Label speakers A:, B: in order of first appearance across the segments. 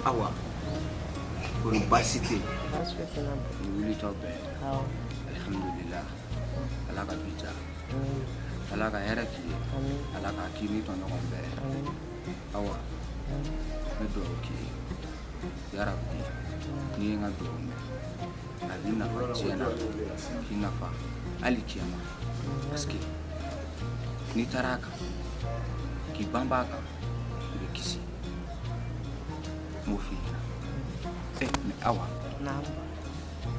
A: Awa kɔni baasi tɛ yen
B: wuli tɔ bɛɛ alihamudulila ala ka bi diya ala ka hɛrɛ k'i ye ala k'a k'i ni tɔɲɔgɔn bɛɛ awa ne dugawu k'i ye yarabi n'i ye n ka dugawu mɛn a b'i nafa diɲɛ na k'i nafa alikiyama parce que n'i taara a kan k'i banba a kan i bɛ kisi n b'o f'i ɲɛna ɛ mais awa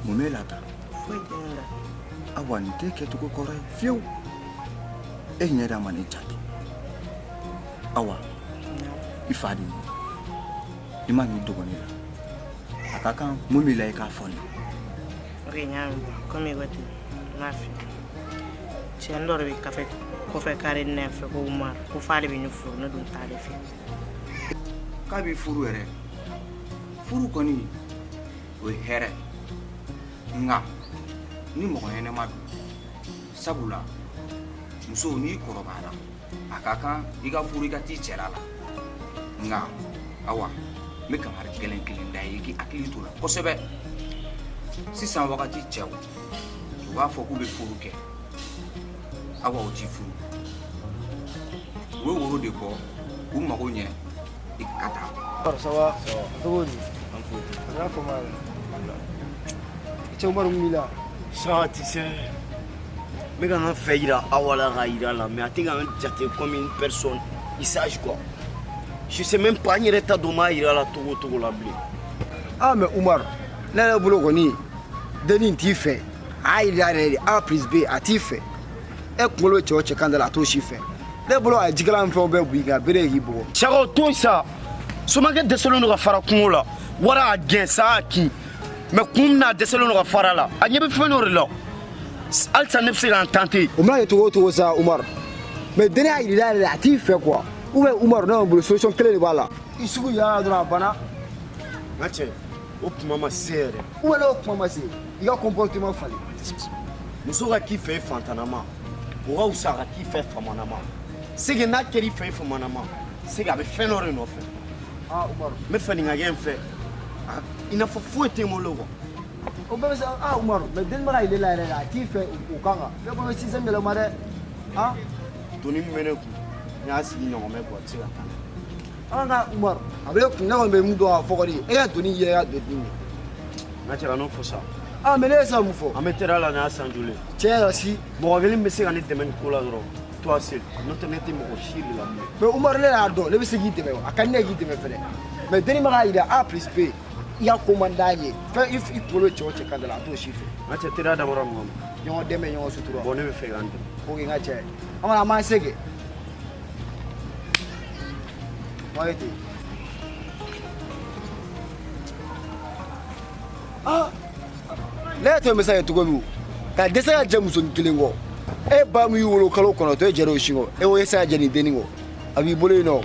B: mun b'e la tan foyi tɛ ne la awa nin tɛ kɛcogo kɔrɔ ye fiyewu e ɲɛda ma ne jate awa i fa de ye i ma n'i dogo ne la a ka kan mun b'i la i k'a fɔ ne o
C: de y'a min komi i ko ten n b'a fɛ cɛni dɔ de bɛ kafe kɔfɛ kare ne fɛ ko umaru ko f'ale bɛ ne furu ne dun t'ale fɛ
A: k'a b'i furu yɛrɛ furu kɔni o ye hɛrɛ nka ni mɔgɔ ɲɛnama don sabula muso n'i kɔrɔbayara a ka kan i ka furu i ka t'i cɛla la nka awa n bɛ kangari gɛlɛn kelen da i ye i k'i hakili to a la kosɛbɛ sisan wagati cɛw u b'a fɔ k'u bɛ furu kɛ awa u t'i furu u bɛ woro de bɔ k'u mago ɲɛ i ka taa. ça
D: va cogo di n'a fɔ ma cɛ umaru mi la. ça tu sais n
E: bɛ ka n fɛ yira awa la ka yira la mais a tɛ ka n jate comme une personne il sage quoi je sais même pas n yɛrɛ t'a dɔn n b'a yira la cogo cogo la bilen. ah
D: mais umaru ne yɛrɛ bolo kɔni denni t'i fɛ a yira yɛrɛ de a plus b a t'i fɛ. e kunkolo cɛ o cɛ kan da la a t'o si fɛ ne bolo a ye jikalan fɛnw bɛɛ b'i kan bere k'i bugɔ cɛ a ko to yen
E: sa somakɛ dɛsɛlen don ka fara kungo la wara a gɛn sa a kin mais kun min na a dɛsɛlen don ka fara a la a ɲɛ bɛ fɛn dɔ de la halisa ne bɛ se k'an tenter o mana kɛ cogo o cogo
D: sa umar mais denni y'a yir'i la yɛrɛ de a t'i fɛ quoi ou bien umar ne kɔni bolo solution kelen de b'a la i sugu yala dɔrɔn a banna n ka
E: cɛ o kuma ma se yɛrɛ ou bien o kuma ma se
D: i ka comportement falen
E: muso ka k'i fɛ fantanama o ka wusa ka k'i fɛ famanama c'est que n'a kɛra i fɛ famanama c'est que a bɛ fɛn dɔ de nɔfɛ n
D: bɛ fɛ nin ka kɛ n fɛ
E: i n'a fɔ foyi tɛ n bolo quoi o bɛɛ bɛ
D: se aa umaru mais denni man'a yir'i la yɛrɛ la a t'i fɛ o kan kan ne ko i bɛ système yɛlɛma dɛ a
E: doni min bɛ ne kun n y'a sigi ɲɔgɔn mɛ quoi a tɛ se ka taa An
D: ka Umaru a bɛ kun ne kɔni bɛ min dɔn a fɔ kɔni e ka doni y'i yɛrɛ ka doni de ye. N ka cɛ
E: kan'o fɔ sa. Aa mais ne ye san
D: mun fɔ. An bɛ teriya la n'a san
E: joli ye. Tiɲɛ yɛrɛ si.
D: Mɔgɔ kelen bɛ se ka ne
E: dɛmɛ nin ko la dɔrɔn toi seul n'o tɛ ne tɛ mɔgɔ si de la bilen. Mais Umaru ne y'a dɔn
D: ne bɛ se k'i dɛmɛ a ka di ne ye k'i dɛmɛ fɛnɛ mais denni ma k'a jira A plus B i ka ko man d'a ye fɛn i i kunkolo cɛ o cɛ kan da la a t'o si fɛ. N ka cɛ teriya dabɔra
E: mun kama. Ɲɔgɔn dɛmɛ ɲɔgɔn sutura.
D: Bon ne bɛ fɛ i ka n dɛmɛ.
E: Ok n ka cɛ an
D: kɔni an b'an se kɛ. Wayi dɛ. Ah! Ne yɛrɛ t'a dɔn e bɛ se ka kɛ cogo min ka dɛsɛ ka jɛ musonin kelen kɔ e ba min y'i wolo kalo kɔnɔntɔn e jɛra o sin kɔ e ko e tɛ se ka jɛ nin denni kɔ a b'i bolo yen nɔ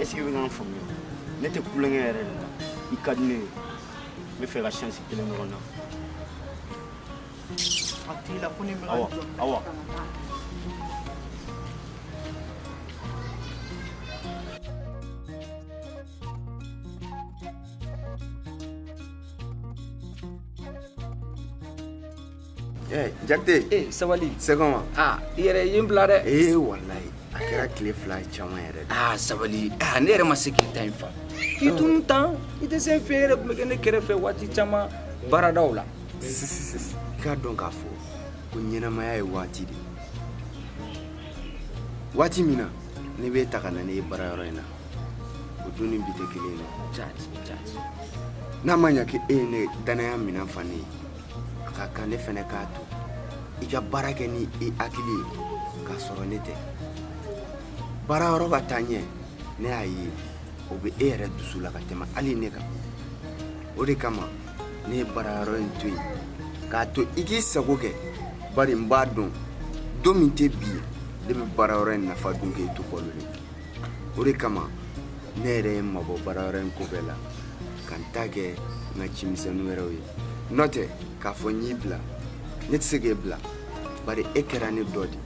E: est-ce que i bɛ ka n faamuya ne tɛ kulonkɛ yɛrɛ de la i ka di ne ye n bɛ fɛ ka chance kelen ɲɔgɔn na
C: a t'i la ko ne bɛ ka awa jɔ awa
F: Ɛɛ
A: Jakite.
F: Ee sabali.
A: C'est
F: comment? Aa i yɛrɛ i ye
A: n bila
F: dɛ. Ee walayi
E: a kɛra tile fila caman yɛrɛ de. Aa sabali aa ne yɛrɛ
A: ma se k'i ta in faamu. K'i tunun tan i tɛ se n fɛ yɛrɛ tun bɛ kɛ ne kɛrɛfɛ waati caman baaradaw la. I
E: k'a dɔn k'a fɔ ko ɲɛnamaya ye waati de ye. Waati min na ne b'e ta ka na n'e ye baarayɔrɔ in na o don ni bi tɛ kelen ye dɛ. Jati jati.
A: N'a
E: ma ɲɛ k'e ye ne dannaya minɛn fa ne ye. a ka kan ne fɛnɛ k'a to i ka baara kɛ ni i hakili ye k'a sɔrɔ ne tɛ baarayɔrɔ ka taa ɲɛ ne y'a ye o bɛ e yɛrɛ dusu la ka tɛmɛ hali ne kan o de kama ne ye baarayɔrɔ in to yen k'a to i k'i sago kɛ bari n b'a dɔn don min tɛ bi ye ne bɛ baarayɔrɔ in nafa dun k'e to balolen o de kama ne yɛrɛ ye n mabɔ baarayɔrɔ in ko bɛɛ la ka n ta kɛ n ka cimisɛnnin wɛrɛw ye n'o tɛ k'a fɔ n y'i bila ne tɛ se k'e bila bari e kɛra ne dɔ de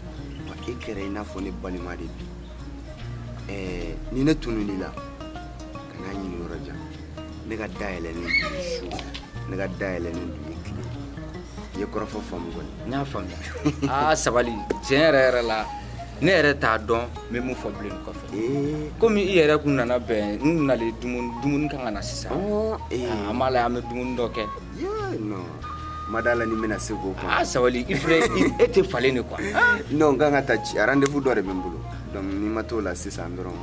E: wa e kɛra i n'a fɔ ne balima de bi ɛɛ ni ne tunun'i la kan'a ɲini yɔrɔ jan ne ka da yɛlɛlen don i ye su ne ka da yɛlɛlen don i ye tile i ye kɔrɔfɔ faamu kɔni n y'a
A: faamuya aa sabali tiɲɛ yɛrɛ yɛrɛ la ne yɛrɛ t'a dɔn n bɛ mun fɔ bilen kɔfɛ komi i yɛrɛ kun nana bɛn n nalen dumuni dumuni kan ka na sisan an b'a la an bɛ dumuni dɔ
E: kɛ n ma d'a la ni n bɛna se k'o kɔnɔ aa sabali i filɛ
A: e tɛ falen de quoi non n kan ka
E: taa ci rendez-vous dɔ de bɛ n bolo donc ni n ma t'o la sisan dɔrɔn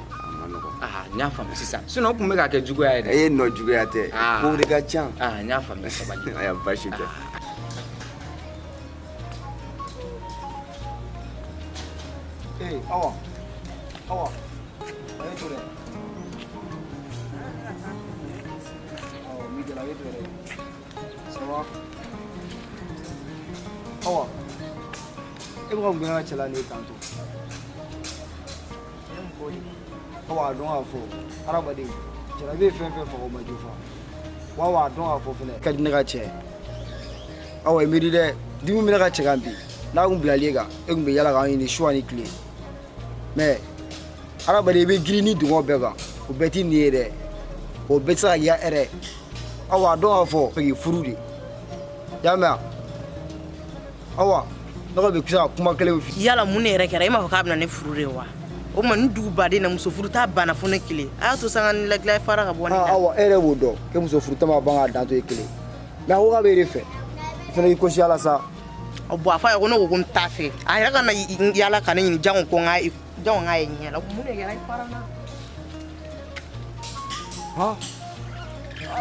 E: N y'a
A: faamuya
E: sisan
A: sinon o tun bɛ ka kɛ juguya ye dɛ e ye non juguya
E: tɛ kow de ka ca n y'a faamuya
A: sabali a basi
D: tɛ e bɛ ka cɛla ni kan to awa a dɔn k'a fɔ hadamaden jara bɛ fɛn fɛn faga o ma jufa wa awa a dɔn k'a fɔ fɛnɛ ka di ne ka cɛ awa i miiri dɛ dimi bɛ ne ka cɛ kan bi n'a kun bilali e kan e kun bɛ yala k'an ɲini su ani tile mais hadamaden i bɛ girin nidungɔ bɛɛ kan o bɛɛ t'i nin ye dɛ o bɛɛ tɛ se ka k'i ka hɛrɛ awa a dɔn k'a fɔ fɛ k'i furu de y'a mɛn awa ne ko n bɛ se ka kuma kelen f'i ye yala mun ne yɛrɛ kɛra e m'a fɔ
C: k'a bɛna ne furu de wa o tuma nin duguba in na muso furuta banna fo ne kelen a y'a to sanga ni lagila fara ka bɔ ne da awa e yɛrɛ b'o dɔn ko
D: muso furuta ma ban k'a dan to e kelen mais a ko k'a bɛ e de fɛ i fana k'i kosi ala sa ɔ bon a fɔ a
C: ye ko ne ko ko n t'a fɛ a yɛrɛ ka na yala ka ne ɲini jango ko n k'a ye jango n k'a ye ɲɛ la mun de kɛra i fara n na ha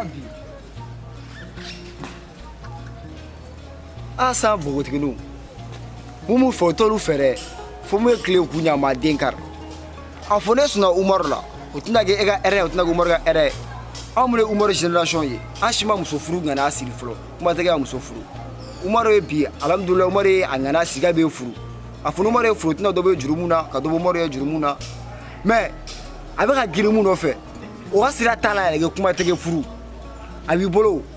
C: abi
D: a san npogotiginiw mun b'u fɛ u t'olu fɛ dɛ fo mun ye tile k'u ɲa ma den kari a fɔ ne sɔnna umaru la o tɛna kɛ e ka hɛrɛ ye o tɛna kɛ umaru ka hɛrɛ ye anw minnu ye umaru génération ye an si ma muso furu ŋaniya siri fɔlɔ kuma tɛ kɛ ka muso furu umaru ye bi alhamdulilayi umaru ye a ŋaniya siri k'a bɛ furu a fɔ umaru ye furu tɛna dɔ bɛ jurumu na ka dɔ bɔ umaru ye jurumu na mais a bɛ ka girin mun nɔfɛ o ka sira t'a la yɛrɛ kɛ kuma tɛ kɛ furu a b'i bolo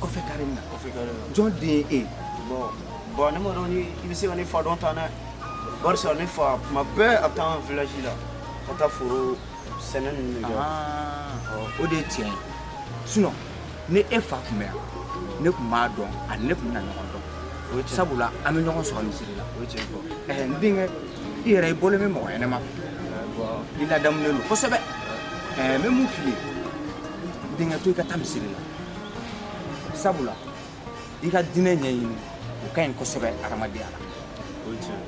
A: kɔfɛ kare in na jɔn den ye e bon
E: ne m'a dɔn ni i bɛ se ka ne fa dɔn tan dɛ barisa ne fa tuma bɛɛ a bɛ taa an village la ka taa foro sɛnɛ ninnu de kɛ o
A: de ye tiɲɛ ye sinon ni e fa tun bɛ yan ne tun b'a dɔn a ni ne tun bɛna ɲɔgɔn dɔn sabula an bɛ ɲɔgɔn sɔrɔ misiri la ɛɛ n denkɛ i yɛrɛ i bɔlen bɛ mɔgɔ ɲɛnama fɛ i ladamunen don kosɛbɛ ɛɛ n bɛ mun f'i ye Denkɛ to i ka taa misiri la sabula i ka diinɛ ɲɛɲini o ka ɲi kosɛbɛ hadamadenya la o ye tiɲɛ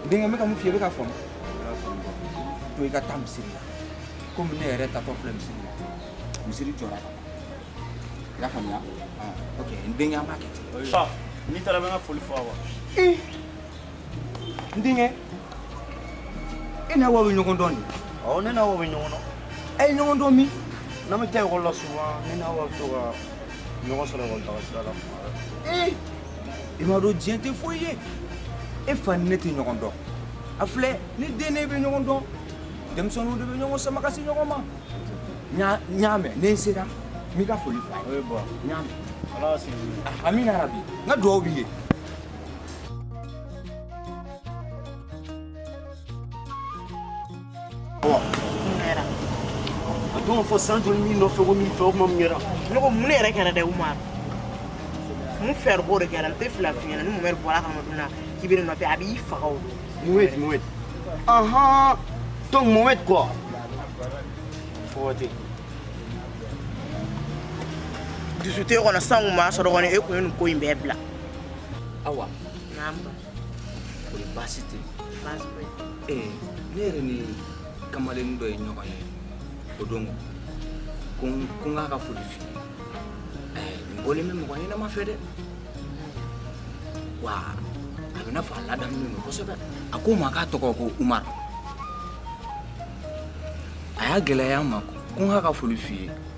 A: n denkɛ n bɛ ka mun f'i ye i bɛ k'a faamu to i ka taa misiri la komi ne yɛrɛ tatɔ filɛ misiri la misiri jɔra ka ban i y'a faamuya ok n denkɛ an b'a kɛ ten n'i taara i bɛ n ka foli
E: fɔ Awa
A: n denkɛ e n'Awa bɛ ɲɔgɔn dɔn de awɔ ne n'Awa bɛ
E: ɲɔgɔn dɔn aw ye ɲɔgɔn dɔn
A: min n'an bɛ taa ekɔli la
E: souvent ne n'Awa bɛ to ka ɲɔgɔn sɔrɔ ekɔli taga sira la tuma bɛɛ ee i m'a
A: dɔn diɲɛ tɛ foyi ye e fa ni ne tɛ ɲɔgɔn dɔn a filɛ ne den n'e bɛ ɲɔgɔn dɔn denmisɛnninw de bɛ ɲɔgɔn sama ka se ɲɔgɔn ma n y'a n y'a mɛn ni n sera n b'i ka foli fɔ a ye n y'a mɛn amina yarabi n ka dugawu b'i ye
E: A don fɔ san joli min nɔfɛ ko min fɛ o ma mun kɛra ne ko mun ne yɛrɛ kɛra
C: dɛ u ma mun fɛɛrɛ b'o de kɛra n tɛ fila fiɲɛ na ni mun wɛrɛ bɔra kama dun na k'i bɛ ne nɔfɛ a b'i faga o don mowɛti mowɛti
E: ahan donc mowɛti quoi fɔwɔti
C: dusute kɔnɔ san kun b'a sɔrɔ kɔni e kun ye nin ko in bɛɛ bila
A: Awa.
C: Naam. Kori
A: baasi tɛ yen.
C: Baasi foyi tɛ yen. Ee ne
A: yɛrɛ ni kamalennin dɔ ye ɲɔgɔn ye o dun ko ko n k'a ka foli f'i ye ɛɛ nin bɔlen bɛ mɔgɔ ɲɛnama fɛ dɛ wa a bɛ i n'a fɔ a ladamulen don kosɛbɛ a ko n ma k'a tɔgɔ ko Umaru a y'a gɛlɛya n ma ko n k'a ka foli f'i ye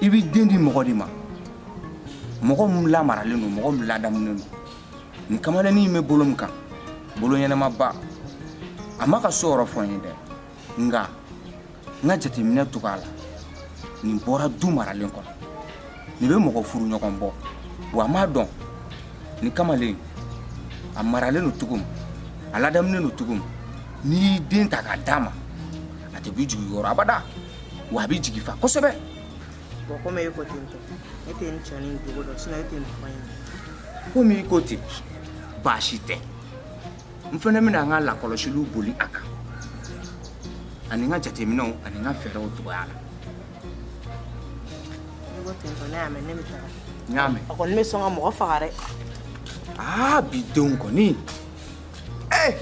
A: i b'i den di mɔgɔ de ma mɔgɔ min lamaralen don mɔgɔ min ladamunen don nin kamalennin bɛ bolo min kan bolo ɲɛnamaba a m'a ka so yɔrɔ fɔ n ye dɛ nka n ka jateminɛ cogoya la nin bɔra du maralen kɔnɔ nin bɛ mɔgɔ furu ɲɔgɔn bɔ wa i m'a dɔn nin kamalen a maralen don cogo min a ladamunen don cogo min n'i y'i den ta k'a d'a ma a tɛ b'i jigi kɔrɔ abada wa a b'i jigi fa kosɛbɛ bɔn
C: komi e ko ten tɔ ne tɛ nin cɛnin jogo dɔn sinɔn e tɛ nin fɔ n ɲɛna komi
A: i ko ten baasi tɛ n fana bɛna n ka lakɔlɔsiliw boli a kan ani n ka jateminɛw ani n ka fɛɛrɛw cogoya la
C: n'i ko ten tɔ ne y'a mɛn ne bɛ taga n y'a mɛn a kɔni bɛ
A: sɔn ka mɔgɔ
C: faga dɛ aa
A: bi denw kɔni Ee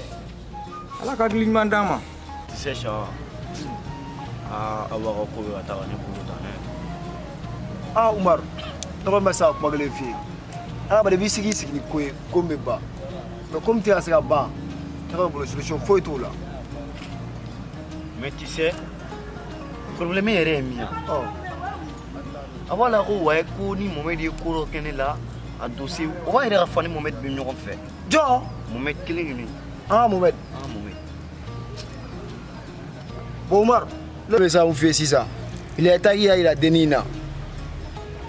A: ala ka hakili ɲuman d'an ma tu sais
E: sɔ aa awa ka ko bɛ ka taa ka ne dan
D: aa umaru ne kɔni bɛ se ka kuma kelen f'i ye adamaden i b'i sigi i sigi ni ko ye ko min bɛ ban mais ko min tɛ ka se ka ban ne ka bolo solution foyi t'o
E: la mais tu sais problème yɛrɛ ye min ye ɔ a b'a la ko waye ko ni momɛdi ye ko dɔ kɛ ne la a dossier o b'a yɛrɛ ka fa ni momɛdi bɛ ɲɔgɔn fɛ jɔn
D: mɔmɛdi
E: kelen kelen an
D: mɔmɛdi an mɔmɛdi bon umaru ne bɛ sa n fɛ sisan il est temps k'i y'a jira dennin in na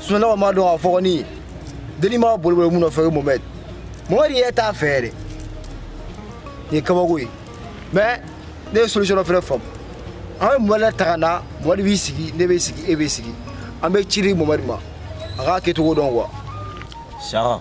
D: sunɔgɔ ma dɔn a fɔgɔni ye dennin bɛ ka boliboli min nɔfɛ o ye mɔmɛdi mɔmɛdi yɛrɛ t'a fɛ yɛrɛ nin ye kabako ye mais ne ye solution dɔ fɛnɛ faamu an bɛ mɔmɛdi ta ka na mɔmɛdi b'i sigi ne bɛ sigi e bɛ sigi an bɛ ci di mɔmɛdi ma a k'a kɛcogo dɔn quoi saka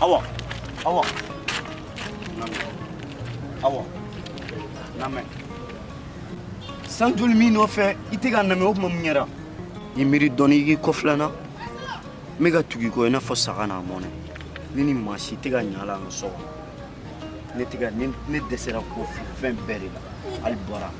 E: Awa awa awa n lamɛn san joli n b'i nɔfɛ i tɛ ka n lamɛn o tuma mun kɛra i miiri dɔɔni i k'i kɔfilɛ n na n bɛ ka tugu i kɔ i n'a fɔ saga n'a mɔnɛ ne ni maa si tɛ ka ɲa a la an ka so kɔnɔ ne tɛ ka ne ne dɛsɛra ko fɛn bɛɛ de la hali bɔra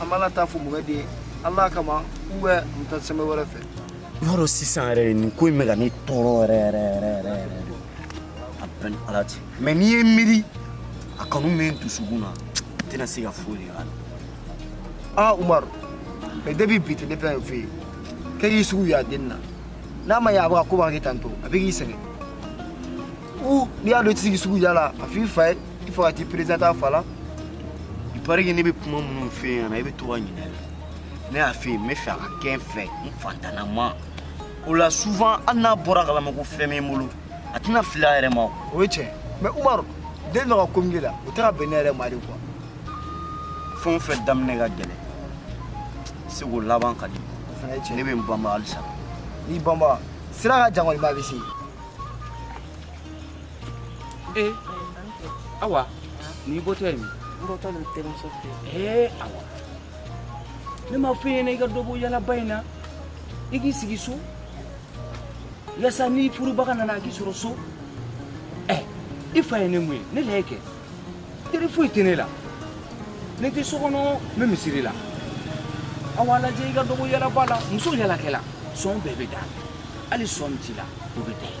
D: an b'an ka taa fɔ mɔgɔ den ala kama u bɛ n ta sɛmɛ wɛrɛ fɛ i y'a dɔn
E: sisan yɛrɛ de nin ko in bɛ ka ne tɔɔrɔ yɛrɛ yɛrɛ yɛrɛ yɛrɛ yɛrɛ de a bɛ n ni ala cɛ mais n'i ye miiri a kanu bɛ n dusukun na n tɛna se ka foyi de k'a la aa
D: umaru mais depuis bi tɛ ne b'a f'i ye kɛ k'i sugu y'a den na n'a ma ɲɛ a bɛ ka koba kɛ tantôt a bɛ k'i sɛgɛn u n'i y'a dɔn i tɛ se k'i sugu y'a la a f'i fa ye il faut ka t'i présenter a fa la il
E: paraît que ne bɛ kuma minnu f'i ɲɛna i bɛ to ka ɲinɛ ne y'a f'i ye n b'a fɛ a ka kɛ n fɛ n fantanama o la souvent hali n'a bɔr'a kalama ko fɛn bɛ n bolo a tɛna fili a yɛrɛ ma o ye tiɲɛ
D: mais umaru den dɔ ka ko min kɛ la o tɛ ka bɛn ne yɛrɛ ma de
E: quoi fɛn o fɛn daminɛ ka gɛlɛn c'est que laban ka di ne bɛ n banba halisa n'i banba
D: sira ka jan kɔni mais a bɛ se
B: awa n'i bɔtɔ ye min n bɔtɔ n terimuso
C: fɛ ee
B: awa ne m'a f'i ɲɛna i ka dɔ bɔ yalaba in na i k'i sigi so yasa ni furubaga nana a k'i sɔrɔ so ɛ i fa ye ne mun ye ne lajɛ kɛ teri foyi tɛ ne la ne tɛ so kɔnɔ n bɛ misiri la awa lajɛ i ka dɔ bɔ yalaba la muso yalakɛla sɔn bɛɛ bɛ d'a la hali sɔn min t'i la o bɛ da ye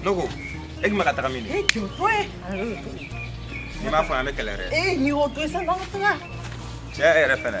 A: N dɔgɔ e ma ka taga min e jɔ to n'i m'a fɔ an bɛ kɛlɛ dɛ e n'i y'o to sa
C: n'an taga cɛ e
A: yɛrɛ fɛnɛ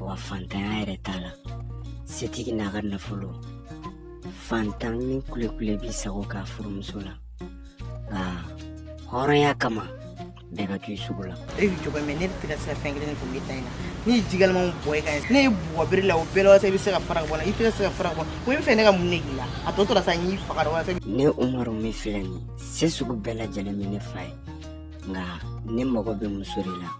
F: wa fantanya yɛrɛ t'a la setigi n'a ka nafolo fantan ni kulekule b'i sago k'a furumuso la nka hɔrɔnya kama bɛɛ ka k'i sugu la e bɛ jɔ mɛ ne tɛ ka
C: se ka fɛn kelen kun bɛ ta in na ne ye ji kalama bɔn i kan ne y'i bugɔ bere la o bɛɛ la walasa i bɛ se ka fara ka bɔ n na i tɛ ka se ka fara ka bɔ n kɔ i b'a fɛ ne ka mun de k'i la a tɔ tora sa n y'i faga dɔ walasa ne umaru min
F: filɛ nin se sugu bɛɛ lajɛlen bɛ ne fa ye nka ne mago bɛ muso de la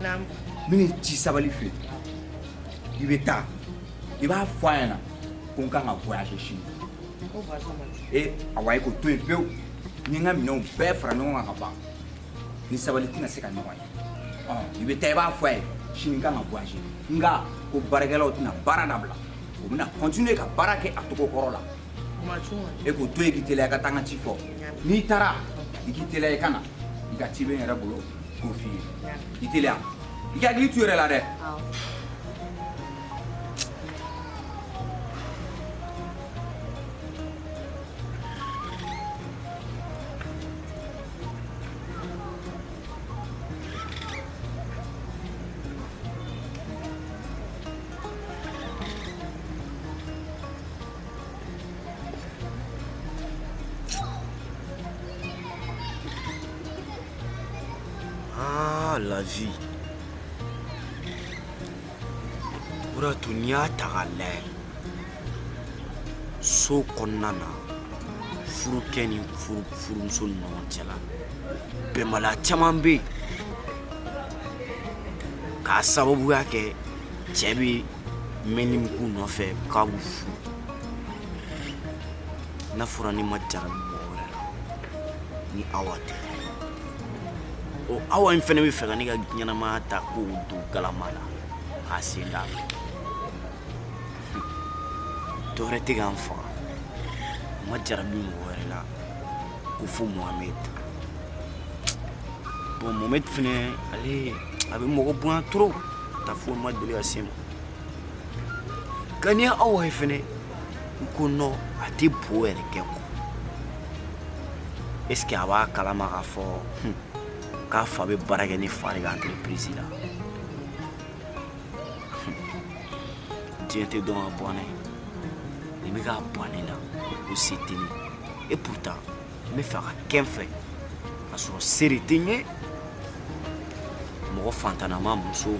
A: n bɛn'i ci sabali fɛ i bɛ taa i b'a fɔ a ɲɛna ko n kan ka voyage sini e awa i k'o to yen pewu n ye n ka minɛnw bɛɛ fara ɲɔgɔn kan ka ban n ni sabali tɛna se ka ɲɔgɔn ye ɔ i bɛ taa i b'a fɔ a ye sini n kan ka voyage nka ko baarakɛlaw tɛna baara dabila u bɛna continuer ka baara kɛ a cogo kɔrɔ la e k'o to yen k'i teliya i ka taa n ka ci fɔ n'i taara i k'i teliya i ka na i ka ci bɛ n yɛrɛ bolo Gofi. I teliya. I k'i hakili to i yɛrɛ la dɛ. Awɔ.
E: Ah, la vie. O de y'a to n'i y'a ta k'a layɛ so kɔnɔna na furukɛ ni furumuso ni ɲɔgɔn cɛla bɛnbaliya caman bɛ yen k'a sababuya kɛ cɛ bɛ mɛnni min k'u nɔfɛ k'a b'u furu n'a fɔra n'i ma jarabi ni awa tɛ o awa in fɛnɛ bɛ fɛ ka ne ka ɲɛnamaya ta k'o don galama la k'a sen d'a ma dɔ wɛrɛ tɛ ka n faga n ma jarabi mɔgɔ wɛrɛ la ko fo mohamed bon mohamed fɛnɛ ale a bɛ mɔgɔ bonya trop ta fo n ma deli ka se ma ka ni awa ye fɛnɛ n ko non a tɛ bo yɛrɛ kɛ ko est ce que a b'a kalama k'a fɔ hmm, k'a fa bɛ baara kɛ ne fa de ka entreprise la hmm, diɲɛ tɛ dɔn ka bɔ ne ye nin bɛ k'a bɔ ne la ko se tɛ ne ye et pourtant n b'a fɛ a ka kɛ n fɛ k'a sɔrɔ se de tɛ n ye mɔgɔ fantanama muso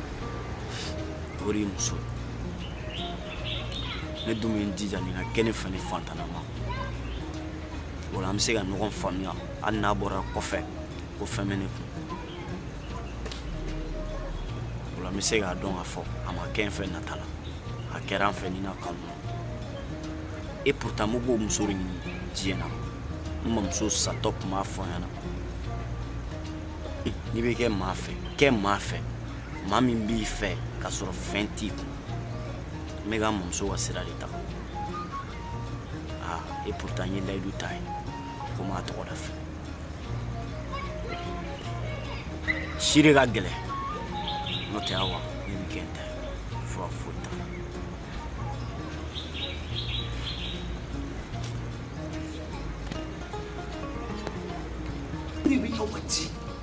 E: o de ye muso ye ne dun bɛ n jija nin ka kɛ ne fɛ ni fantanama o la an bɛ se ka ɲɔgɔn faamuya hali n'a bɔra kɔfɛ ko fɛn bɛ ne kun o la n bɛ se k'a dɔn k'a fɔ a ma kɛ n fɛ nata la a kɛra n fɛ ni na kanu na et pourtant n b'o muso de ɲini diɲɛ na n mamuso satɔ tun b'a fɔ n ɲɛna n'i bɛ kɛ maa fɛ kɛ maa fɛ maa min b'i fɛ k'a sɔrɔ fɛn t'i kun n bɛ ka n mamuso ka sira de ta aa et pourtant n ye layidu ta a ye ko n b'a tɔgɔ da fɛ si de ka gɛlɛn n'o tɛ awa ne bɛ kɛ n ta ye fura foyi t'a
A: la ne bɛ aw ka ci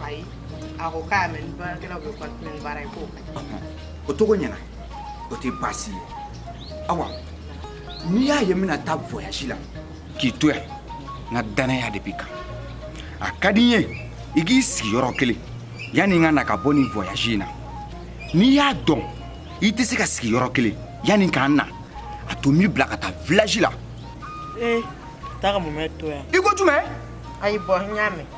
A: Bai, a
C: ko k'a mɛn baarakɛlaw bɛ continuer ni baara ye ko. O tɔ ko
A: ɲɛna. O tɛ baasi ye. Awa. N'i y'a ye n bɛna taa voyage la. K'i to yan. N ka dannaya de b'i kan. A ka di n ye i k'i sigi yɔrɔ kelen yanni n ka na ka bɔ nin voyage in na n'i y'a dɔn i tɛ se ka sigi yɔrɔ kelen yanni k'an na a to n b'i bila ka taa village la. ee
C: taa ka Mohamed to yan. i ko jumɛn.
A: ayi bon n y'a
C: mɛn.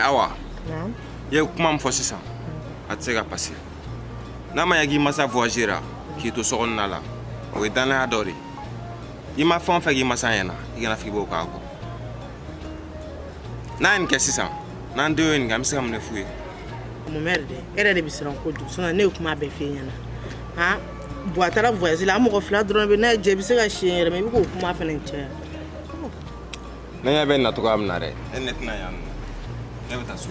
E: awa i ye kuma min fɔ sisan a tɛ se ka passer n'a ma ɲɛ k'i masa voyagera k'i to sokɔnɔna la o ye dannaya dɔ de ye i ma fɛn o fɛn k'i masa ɲɛna i kana fɔ k'i b'o k'a kɔ n'an ye nin kɛ sisan n'an denw ye nin kɛ an bɛ se ka mun de f'u ye Mohamed dɛ
C: e yɛrɛ de bɛ siran kojugu sinon ne ye kuma bɛɛ f'i ɲɛna han bon a taara voyage la an mɔgɔ fila dɔrɔn bɛ n'a ye jɛ i bɛ se ka si yan yɛrɛ même i bɛ k'o kuma fana
E: caya ne ɲɛ bɛ nin na cogoya min na dɛ e ne tɛna yan nɔ ne bɛ taa so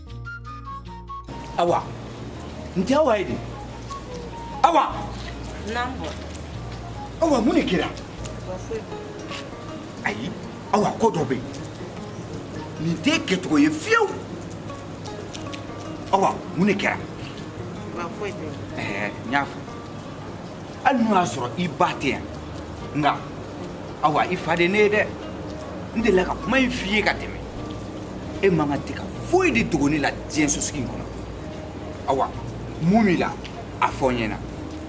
A: Awa n tɛ awa ye de awa
C: awa
A: mun de kɛra ayi awa ko dɔ bɛ yen nin tɛ kɛcogo ye fiyewu awa mun de kɛra n y'a fɔ hali n'o y'a sɔrɔ i ba tɛ yan nka awa i fa de ne ye dɛ n delila ka kuma in f'i ye ka tɛmɛ e man ka tɛ ka foyi de dogo ne la diɲɛ sosigi in kɔnɔ awa mun b'i la a fɔ n ɲɛna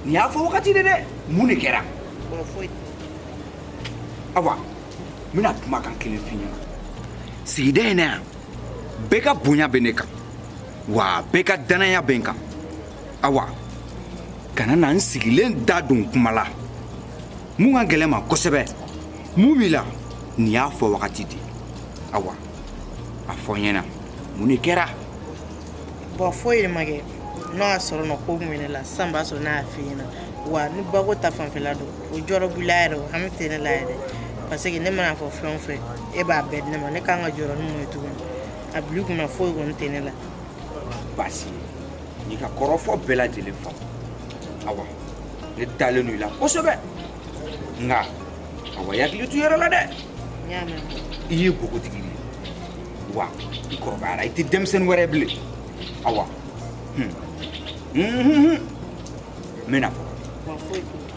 A: nin y'a fɔ wagati de dɛ mun de kɛra awa n bɛna kumakan kelen f'i ɲɛna sigida in na yan bɛɛ ka bonya bɛ ne kan wa bɛɛ ka danaya bɛ n kan awa kana na n sigilen da don kuma la mun ka gɛlɛn ma kosɛbɛ mun b'i la nin y'a fɔ wagati de awa a fɔ n ɲɛna mun de kɛra bɔn
C: foyi de ma kɛ n'o y'a sɔrɔ nɔ ko mun bɛ ne la sisan b'a sɔrɔ n'a y'a f'i ɲɛna wa ni bako ta fanfɛla don o jɔrɔ b'i la yɛrɛ o hami tɛ ne la yɛrɛ parce que ne mana fɔ fɛn o fɛn e b'a bɛɛ di ne ma ne kan ka jɔrɔ ni mun ye tuguni a bil'i kunna foyi kɔni tɛ ne la baasi
A: ye n y'i ka kɔrɔfɔ bɛɛ lajɛlen faamu awa ne dalen don i la kosɛbɛ nka awa i hakili to i yɛrɛ la dɛ n y'a mɛn
C: i ye npogotigi
A: de ye wa i kɔrɔbayara i tɛ denmisɛnnin wɛrɛ ye bilen awa hun. Hun, hun, hun. n bɛna fɔ wa
C: foyi t'o la.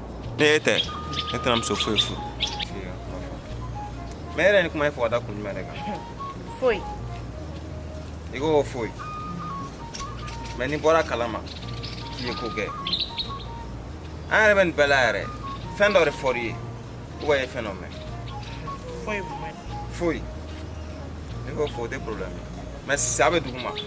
E: Ni e tɛ ne tɛna muso foyi furu
G: mais yɛrɛ ni kuma ye fɔ ka da kun jumɛn de kan foyi i ko foyi mais ni bɔra kalama k'i ye ko kɛ an yɛrɛ bɛ nin bɛɛ la yɛrɛ fɛn dɔ de fɔr'i ye ou bien i ye fɛn dɔ mɛn foyi
C: foyi
G: i ko fo o tɛ problème ye mais sa bɛ duguma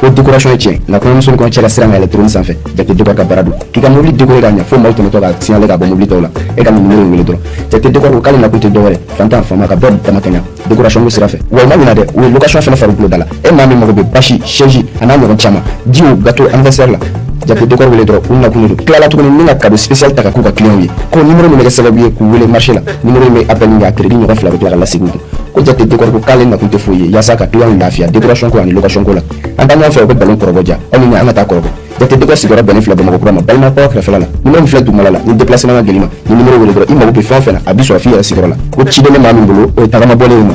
H: ko dekorasɔn ye tiɲɛ nka kɔɲɔmuso ni kɔɲɔcɛ lasiran ka yɛlɛn trône sanfɛ jate dekɔri ka baara don k'i ka mobili dekore k'a ɲɛ fo maaw tɛmɛtɔ ka signale k'a bɔ mobili tɔw la e ka nin numero in wele dɔrɔn jate dekɔri ko k'ale nakun tɛ dɔwɛrɛ faantan faama ka bɛɛ damakɛɲa dekorasɔn ko sira fɛ wa u ma ɲina dɛ u ye lokasɔn fɛnɛ farikolo da la e maa min mago bɛ basi sɛzi a n'a ɲɔgɔn caman jiw gato anniversaire la jate dekɔri wele dɔrɔn u nakun de don tilala tuguni ni ka kado spécial ta ka k'u ka kiliyanw ye ko nimero min bɛ kɛ sababu ye k'u wele marché la nimero in bɛ appel min kɛ a crédit ɲɔgɔn fila bɛ tila ka lasegin u kun ko jate dekɔri ko k'ale nakun tɛ foyi ye yaasa ka kiliyanw lafiya dekorasɔn ko ani lokasɔn ko la an taa ɲɔgɔn fɛ u bɛ bɛlɛn kɔrɔbɔ ja aw ni ne an ka taa kɔrɔbɔ jate dekɔ sigiyɔrɔ bɛnnen filɛ bamakɔ kura ma balima kɔrɔ kɛrɛfɛla la nimero min filɛ dugumala la ni depilasema ka gɛlɛn i ma ni nimero wele dɔrɔn i mago bɛ fɛn o fɛn na a b'i sɔrɔ f'i yɛrɛ sigiyɔrɔ la ko ciden bɛ maa min bolo o ye tagama bɔlen ye ma